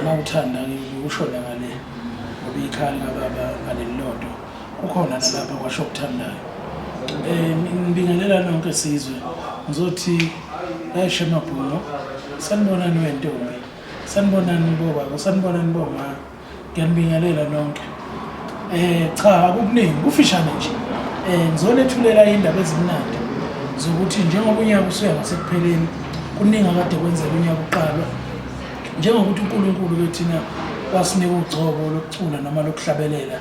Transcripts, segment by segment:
Uma uthanda ngikushona ngale ngoba ikhali kababa ngalelilodo kukhona nalapha kwasho okuthandayo um ngibingelela nonke sizwe ngizothi ayishe amabhungo sanibonani wentombi sanibonani bobaba sanibonani bomama Ngiyanibingelela nonke. Eh cha akukuningi kufishane nje. Eh ngizonethulela indaba ezimnandi zokuthi njengoba unyaka usuya ngasekupheleni kuningi akade kwenzeka unyaka uqalwa njengokuthi uNkulunkulu kethina wasinika ugcobo lokucula noma lokuhlabelela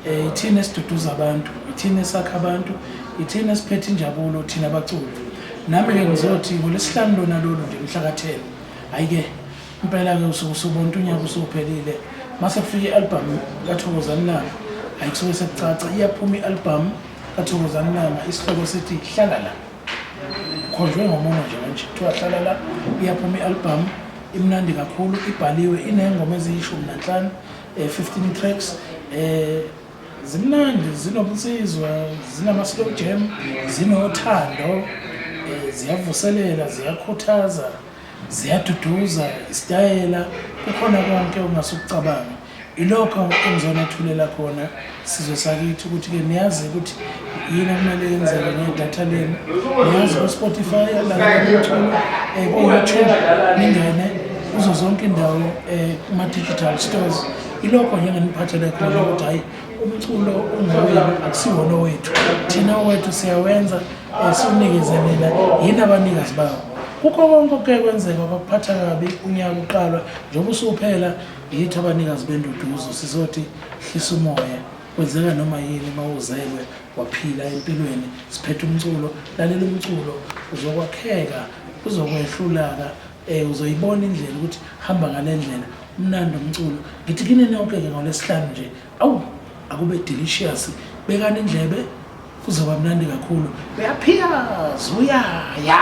eh ithina esiduduza abantu ithina esakha abantu ithina esiphethe injabulo thina abaculi nami ke ngizothi ngolesihlanu lona lolu nje mhla ka 10 ayike impela ke usuku sobontu unyaka usuphelile mase kufika i-album kathokozani langa hayi kusuke sekucaca iyaphuma i-album kathokozani langa isihloko sithi hlala la khonjwe ngomono nje manje kuthiwa hlala la iyaphuma i-album imnandi kakhulu ibhaliwe inengoma eziyishumi nanhlanu um fifteen tracks um zimnandi zinobunsizwa zinama-slow jam zinothando um ziyavuselela ziyakhuthaza ziyaduduza isitayela kukhona konke ongase ukucabanga ilokho engizonethulela khona sizwe sakithi ukuthi-ke niyazi ukuthi yini okumele yenzeke ngedatha lenu niyazi ku-spotify lalaumculo um eh, ku-youtube ningene kuzo zonke indawo um eh, kuma-digital stores ilokho njengeniphathele khona ukuthi hhayi umculo ungowenu akusiwona owethu thina owethu siyawenza um eh, siwunikeze nina yini abanikazi bawo kukho konke okuke kwenzeka kwakuphatha kabi unyaka uqalwa njengoba usuphela yithi abanikazi benduduzo sizothi hlisa umoya kwenzeka noma yini uma uzelwe waphila empilweni siphethe umculo lalela umculo uzokwakheka uzokwehlulaka Eh uzoyibona indlela ukuthi hamba ngalendlela umnandi umculo. Ngithi kini nonke ke ngolesihlanu nje. Awu akube delicious. Bekani indlebe kuzoba mnandi kakhulu. Uyaphiyaza uyaya.